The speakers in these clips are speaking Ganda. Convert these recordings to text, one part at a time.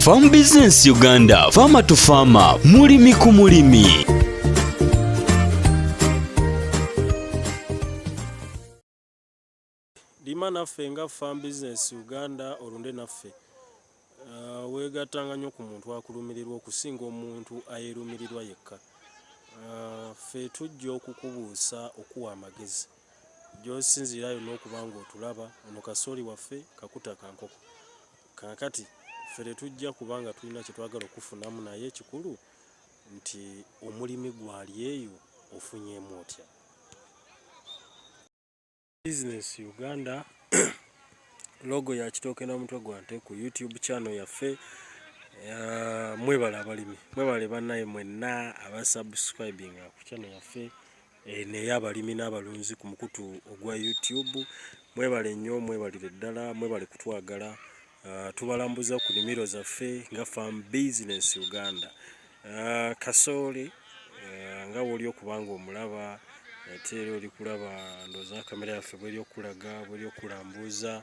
Farm Business Uganda, Farmer to Farmer, mulimi ku mulimi. Lima naffe nga Farm Business Uganda olunde naffe uh, weegattanga nnyo ku muntu akulumirirwa okusinga omuntu ayeerumirirwa yekka. Uh, ffe tujja okukubuusa okuwa amagezi gy'osinziira yonna okuba ng'otulaba ono kasooli waffe kakuta kankoko. Kaakati ffe tetujja kuba nga tulina kye twagala okukufunamu naye ekikulu nti omulimi gwali eyo ofunyeemu otya? Business Uganda logo ya kitooke na mutwe gwa nte ku YouTube channel yaffe. Mwebale abalimi, mwebale bannaye mwenna abasubscribinga ku channel yaffe. Eno ey'abalimi n'abalunzi ku mukutu ogwa YouTube. Mwebale nnyo, mwebalire ddala, mwebale kutwagala. Uh, tubalambuza ku nimiro zaffe nga Farm Business Uganda. Uh, kasooli uh, nga woli okubanga omulaba ate era oli kulaba ndooza kamera yaffe bweri okulaga bweri okulambuuza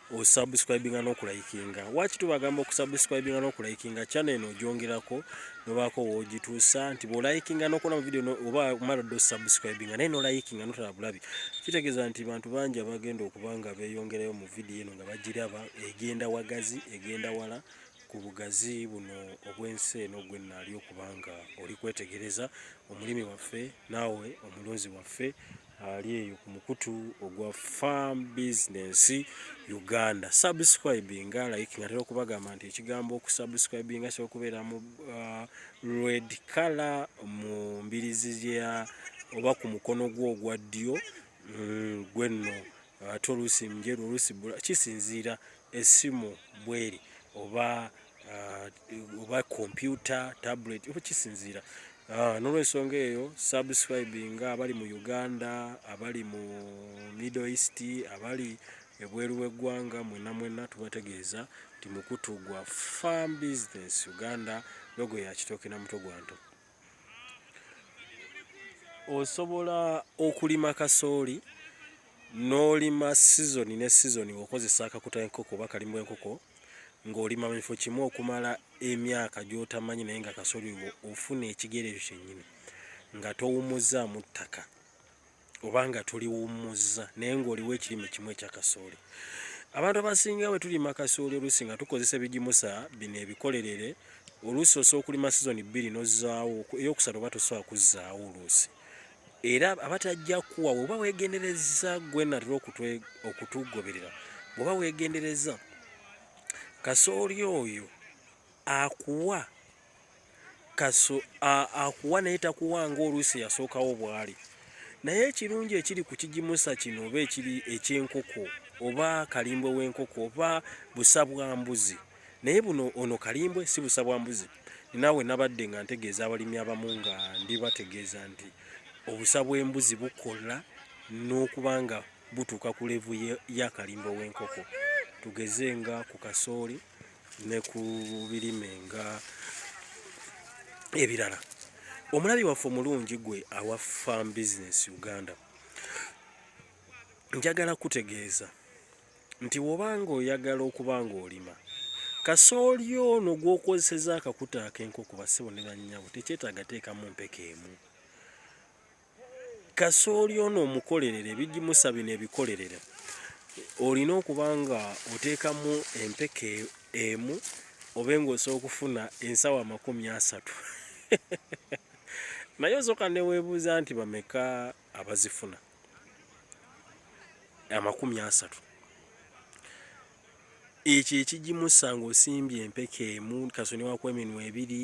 osubscribinga nokulayikinga waki tubagamba okusubscribinga nokulayikinga channel eno ojongerako nobaako wogituusa nti bwolayikinga nokola mu video oba omala dda osubscribinga naye nolayikinga notala bulabi kitegeeza nti bantu bangi abagenda okuba nga beyongerayo mu video eno nga bagiraba egenda wagazi egenda wala ku bugazi buno obw'ensi eno gwe naali okubanga oli kwetegereza omulimi waffe naawe omulunzi waffe ali eyo ku mukutu ogwa farm business uganda subscribinga like nga tera okubagamba nti ekigambo okusubscribinga kyoba okubeera mu uh, red color mu mbirizi ya oba ku mukono gwo ogwa ddyo mm, gwenno ate oluusi mjeru oluusi bula kisinziira esimu bweri oba ah, oba kompyuta tablet oba kisinziira ah, nolwensonga eyo subscribing abali mu uganda abali mu middle east abali ebweru w'eggwanga mwena mwena tubategeeza nti mukutu gwa farm business uganda logo ya kitooke na mutwe gwa nto osobola okulima kasooli n'olima sizoni ne sizoni ng'okozesa akakuta enkoko oba kalimu enkoko ng'olima mu kifo kimu okumala emyaka gy'otamanyi naye nga kasooli ofuna ekigere ekyo kyennyini nga towumuzzaamu ttaka. oba nga tuliwummuzza naye ng'oliwo ekirime kimu ekya kasooli abantu abasinga bwe tulima kasooli oluusi nga tukozesa ebigimusa bino ebikolerere oluusi osobola okulima sizoni bbiri n'ozzaawo ey'okusatu oba tosobola kuzzaawo oluusi era aba tajja kuwa bw'oba weegendereza gwe natera okutugoberera bw'oba weegendereza kasooli oyo akuwa kaso akuwa naye takuwa nga oluusi yasookawo bwali naye ekirungi ekiri ku kigimusa kino oba ekiri ekyenkoko oba kalimbwe w'enkoko oba busa bwa mbuzi naye buno ono kalimbwe si busa bwa mbuzi naawe nabadde nga ntegeeza abalimi abamu nga ndibategeeza nti obusa bw'embuzi bukola n'okuba nga butuuka ku levu ya kalimbwe w'enkoko tugeze nga ku kasooli ne ku birime nga ebirala omulabi waffe omulungi gwe awa farm business uganda njagala kutegeeza nti wobanga oyagala okuba ng'olima kasooli ono gw'okozeseza akakuta ak'enkoko bassebo ne bannyabo tekyetaaga teekamu mpeke emu kasooli ono omukolerere ebigimusa bino ebikolerere olina okuba nga oteekamu empeke emu obe ngaosobola okufuna ensawo amakumi asatu naye osooka neweebuuza nti bameka abazifuna amakumi asatu ekyo ekigimusa ngaosimbye empeke emu kasoni waku eminwa ebiri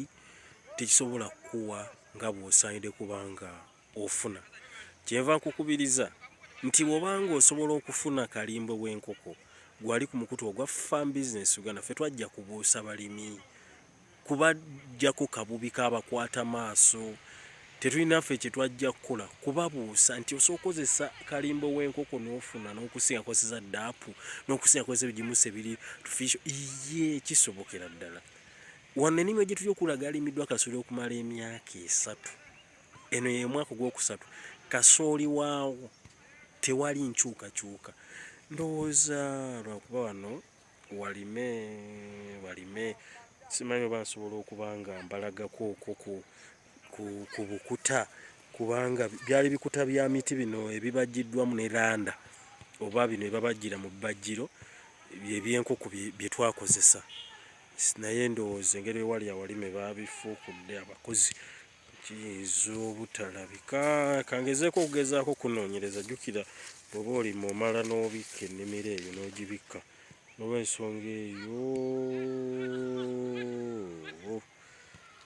tekisobola kukuwa nga bw'osaanidde kuba nga ofuna. Kyenva nkukubiriza nti bw'oba nga osobola okufuna kalimbwe w'enkoko gwali ku mukutu ogwa Farm Business Uganda, ffe twajja kubuusa balimi, kubaggyako kabubi k'abakwata maaso, tetulina ffe kye twajja kukola kubabuusa nti osobola okukozesa kalimbwe w'enkoko n'ofuna n'okusinga kozesa ddaapu n'okusinga kozesa ebigimusa ebiri artificial, iyee kisobokera ddala. Wano ennimiro gye tuli okulaga alimiddwa kasooli okumala emyaka esatu. Eno ye mwaka ogwokusatu kasooli waawo tewali nkyukakyuka. Ndowooza lwakuba wano walime walime simanyi oba nsobola okuba nga mbalagako okoko ku bukuta kubanga byali bikuta bya miti bino ebibajjiddwamu ne landa oba bino ebabajjira mu bbajjiro ebyenkoko bye twakozesa naye ndowooza engeri ewali awali me babifuukudde abakozi kiyinza obutalabika kangezeeko okugezaako okunoonyereza jjukira bwoba oli mumala n'obikka ennimiro eyo n'ogibikka nolwensonga eyo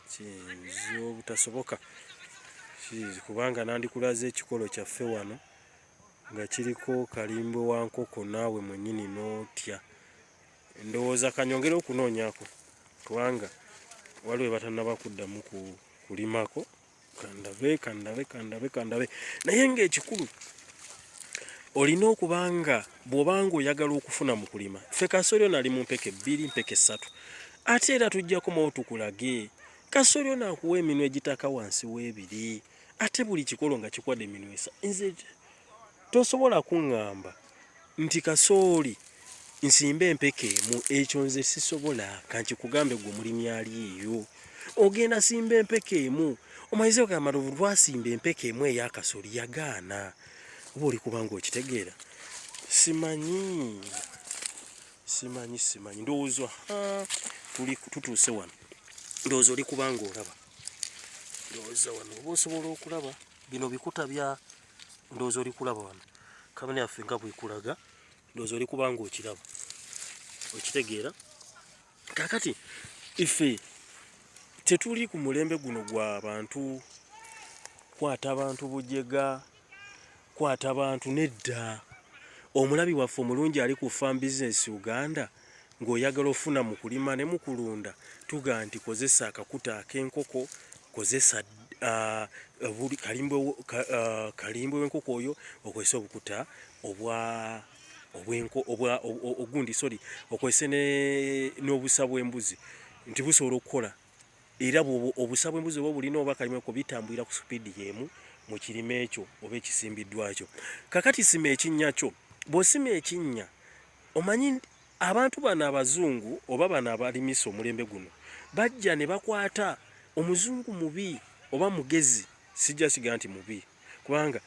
kiyinza obutasoboka kiyinza kubanga nandikulaze ekikolo kyaffe wano nga kiriko kalimbo wa nkoko naawe mwenyini n'otya ndowooza kanyongere okunoonyako kubanga waliwo batanaba kuddamu kulimako kandabe kandabe kandabe kandabe naye ng'ekikulu olina okuba nga bw'obanga oyagala okufuna mu kulima ffe kasolyo nali mu mpeke bbiri mpeke ssatu ate era tujjako mawo tukulage kasolyo nakuwa eminwe egitaka wansi w'ebiri ate buli kikolo nga kikwade eminwe esa nze tosobola kuŋŋamba nti kasooli nsimba empeke emu ekyo nze sisobola kankikugambe gwe mulimi aliiyo ogenda simba empeke emu omayize ogamba luvu lwasimba empeke emu eyakasoli yagaana oba oli kubanga okitegeera simanyi simanyi simanyi ndowooza tuli tutuuse wano ndowooza oli kubanga olaba ndowooza wano oba osobola okulaba bino bikuta bya ndowooza oli kulaba wano kabina yaffe nga bwekulaga ndowooza oli kubanga okiraba okitegeera kakati ife tetuli ku mulembe guno gwa bantu kwata bantu bujega kwata bantu nedda omulabi waffe omulungi ali ku farm business uganda ng'oyagala ofuna mu kulima ne mu kulunda tugaa nti kozesa akakuta ak'enkoko kozesa uh, kalimbwe uh, w'enkoko oyo okozese obukuta obwa obwenko obwa ogundi sorry okozese n'obusa bw'embuzi nti busobola okukola era bwobo obusa bw'embuzi oba obulina oba kalimweko bitambulira ku sipiidi y'emu mu kirime ekyo oba ekisimbiddwakyo kakati sima ekinnya kyo bw'osima ekinnya Omanyi abantu bano abazungu oba bano abalimisa omulembe guno bajja ne bakwata omuzungu mubi oba mugezi sijja kiga nti mubi kubanga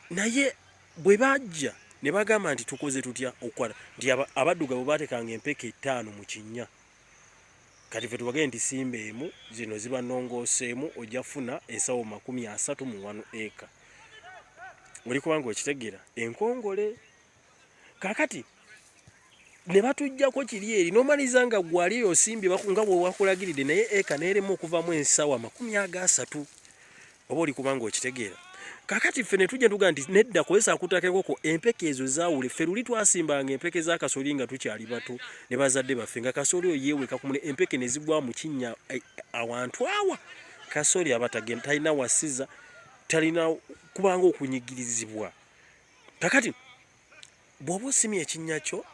naye bwe bajja ne bagamba nti tukoze tutya okukwata nti abadduga bwe batekanga empeke ettaano mu kinnya kati fe tubagee nti simba emu zino ziba nongooseemu ojja funa ensawo makumi asatu mu wanu eka oli kubanga okitegera enkongole kakati ne batujjako kiri eri nomaliza nga gwali eyo osimbye nga bwewakulagiridde naye eka neeremu okuvamu ensawo amakumi aga asatu oba oli kubanga okitegeera kakati ffe netujja tuga nti nedda kozesa akutakekoko empeke ezo zawule ffe luli twasimbanga empeke za kasoli nga tukyali bato ne bazadde baffe nga kasoli oyo yeweka ku mune empeke ne zigwa mu kinnya eh, awantu awa kasoli abatagenda talina wasiza talina kubanga okunyigirizibwa kakati bwoba osimye ekinnya kyo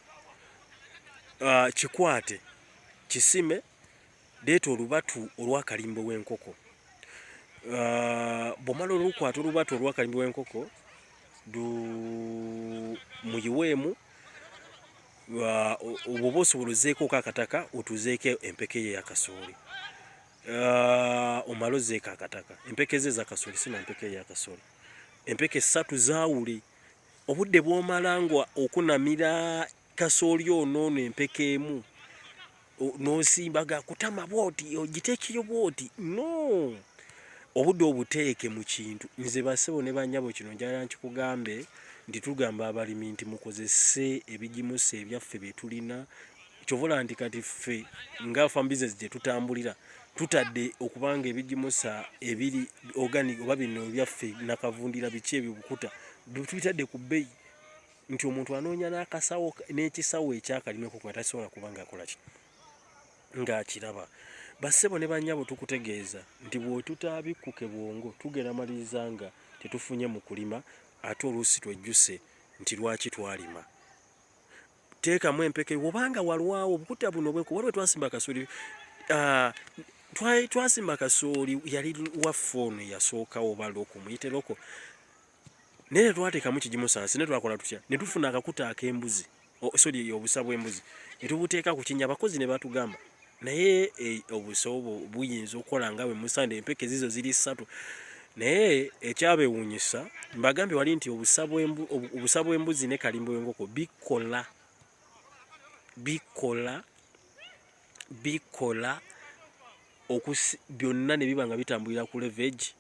uh, kikwate kisime deeta olubatu olwakalimbo w'enkoko uh, bwomala olukwata olubatu olwakalimbo w'enkoko muyiweemu obwoba osobola ozeekooko akataka otuzeeko empeke ye yakasooli uh, omala ozeeko akataka empeke ze ezakasooli sina mpeke ye yakasooli Empeke ssatu zaawule. Obudde bw'omala nga okunamira kasooli ono ono empeke emu n'osimba ga kutama bw'oti ogiteekeyo bw'oti no obudde obuteeke mu kintu nze basebo ne banyabo kino njala nkikugambe nti tugamba abalimi nti mukozese ebigimusa ebyaffe bye tulina kyovola nti kati ffe nga farm business gye tutambulira tutadde okubanga ebigimusa ebiri organic oba bino ebyaffe nakavundira biki ebyo bukuta tubitadde ku bbeyi nti omuntu anoonya n'akasawo n'ekisawo ekyakalimeko nga tasobola kuba ngaakolaki ng'akiraba bassebo ne banyabo tukutegeeza nti bwetutaabikkuke bwongo tugera maliriza nga tetufunye mu kulima ate oluusi twejjuse nti lwaki twalima teekamu empeke wobanga walwawo obukuta buno bweko waliwo twasimba kasooli ah, twasimba kasooli yali waffe ono yasookawo oba loko muyite loko naye tetwateekamu kigimusansi ne twakola tutya ne tufuna akakuta ak'embuzi soli obusa bw'embuzi ne tubuteeka ku kinya abakozi ne batugamba Naye e, obusa obwo buyinza okukola nga bwe musande empeke zizo ziri ssatu naye ekyabewunyisa mbagambye wali nti obusa bw'embuzi ne kalimbo w'enkoko bikola bikola bikola byonna ne biba nga bitambulira ku levegi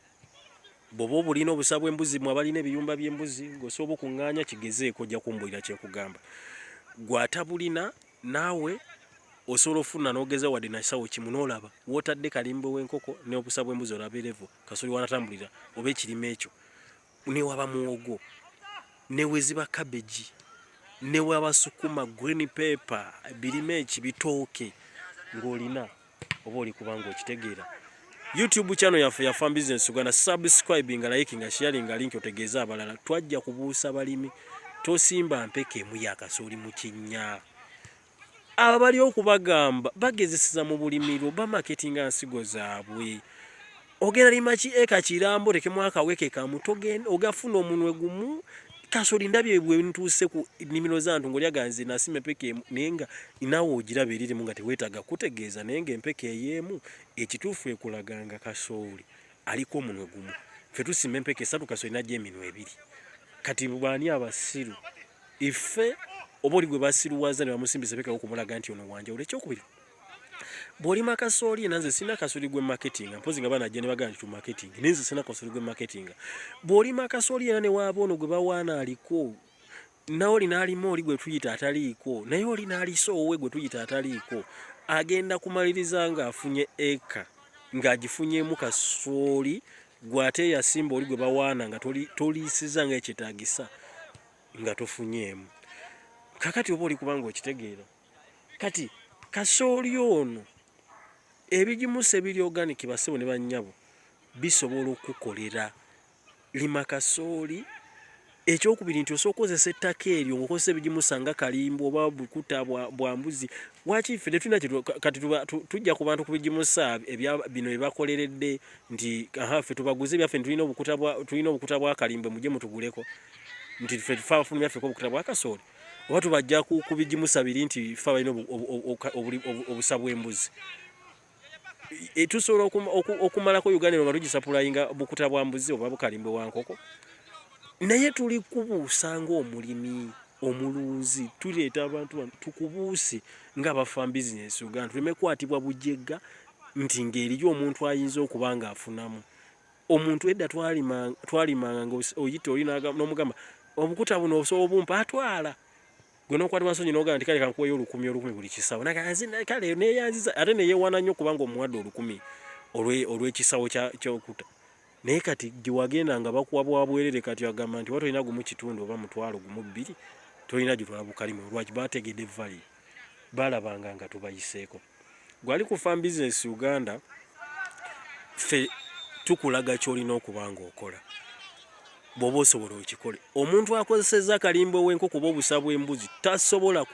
bwoba obulina obusa bw'embuzi mwe abalina ebiyumba by'embuzi ng'osobola okuŋŋaanya kigezeeko ojja kumbulira kye nkugamba gw'atabulina Naawe osobola ofuna nogeza wadde nakisawo kimu nolaba wotadde kalimbwe wenkoko neobusa bwembuzi olabe level kasoli wanatambulira oba ekirime ekyo newaba muwogo neweziba cabbage newaba sukuma green paper birime eki bitooke ngolina oba oli kubanga okitegeera youtube channel yaffe ya farm business uganda subscribe nga like nga sharing nga link otegeeza abalala twajja kubuusa balimi tosimba mpeke emu ya kasooli mu kinnya abo bali okubagamba bagezeseza mu bulimiro bamaketinga nsigo zaabwe ogenda lima ki eka kirambo rekemu akaweke kamu togenda ogafuna omunwe gumu kasoli ndabye bwe ntuuse ku nimiro zantu ngolya ganze nasima empeke emu nenga inawo ogiraba eriri mu nga tewetaga kutegeeza nenga empeke eyemu ekituufu ekulaganga kasoli aliko omunwe gumu fe tusima empeke esatu kasoli najja eminwe ebiri kati bwani abasiru ife oba oli gwe basiruwaza ne bamusimbisa pekako kumulaga nti ono wanja olekyo okubiri bwolima kasooli nanze sina kasooli gwe marketing mpozi nga bana jene bagana tu marketing ninze sina kasooli gwe marketing bwolima kasooli yana ne wabo ono gwe bawana aliko nawo linali moli gwe tuyita ataliko naye oli nali so owe gwe tuyita ataliko agenda kumaliriza nga afunye eka nga agifunye mu kasooli gwate ya simba oli gwe bawana nga toli toli siza nga ekitagisa nga tofunyemu kakati oboli kubanga okitegeera kati kasooli ono ebigimusa ebiri organic basebo ne banyabo bisobola okukukolera lima kasooli ekyokubiri nti osooka kozesa ettaka eryo ngaokozesa ebigimusa nga kalimbu oba bukuta bwa mbuzi waki ffe tetulina kati tujja ku bantu ku bigimusa bino byebakoleredde nti aha ffe tubaguze ebyaffe tulina obukuta bwa kalimbwe mujje mutuguleko nti ffe tufaafunu byaffe ko obukuta bwa kasooli oba tubajja ku bigimusa biri nti fe abalina obusa bw'embuzi e, tusobola okumalako uganda eno nga tugisapulayinga bukuta bwa mbuzi oba bukalimbwe wa nkoko naye tuli kubuusa ng'omulimi omulunzi tuleeta abantu bano tukubuuse nga bafa bizinesi uganda tuleme kukwatibwa bujegga nti ng'eriyo omuntu ayinza okuba ng'afunamu Omuntu edda twalimanga twalimanga nga oyita oli n'omugamba obukuta buno osobola obumpa atwala gwe n'okwatibwa nsonyi n'ogamba nti kale kankuweeyo olukumi olukumi buli kisawo kale neeyanziza ate neyeewana nnyo kubanga omuwadde olukumi olw'ekisawo ky'okuta naye kati gye wagenda nga bakuwa bwa bwerere kati agamba nti oba tolina gumu kitundu oba mutwalo gumu bbiri tolina gyotwala bukalimo lwaki baategedde vali baalabanga nga tubayiseeko. gwali ku farm business uganda fe tukulaga kyolina okuba nga okola bwoba osobola okikole omuntu akozeseza akalimba owenko kuba obusa bwembuzi tasobola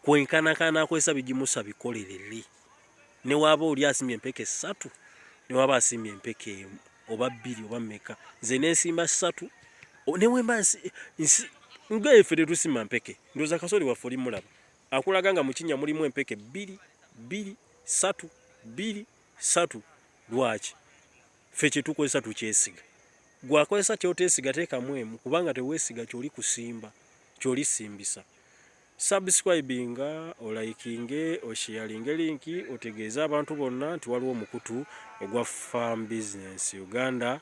kwenkanakana akozesa bigimusa bikolelele newaba oli asimye empeke satu newaba asimye empeke emu oba bbiri oba meka nze nensimba satu newemba nsi nsi nga efe tetusima mpeke ndoza kasoli waffe olimulaba Akulaga nga mu kinnya mulimu empeke bbiri, bbiri, ssatu, bbiri, ssatu. Lwaki? Ffe kye tukozesa tukyesiga. Ggwe akozesa ky'oteesiga teekamu emu kubanga teweesiga ky'oli kusimba, ky'oli simbisa. Subscribinga, olayikinge, osheyalinge linki otegeeze abantu bonna nti waliwo omukutu ogwa Farm Business Uganda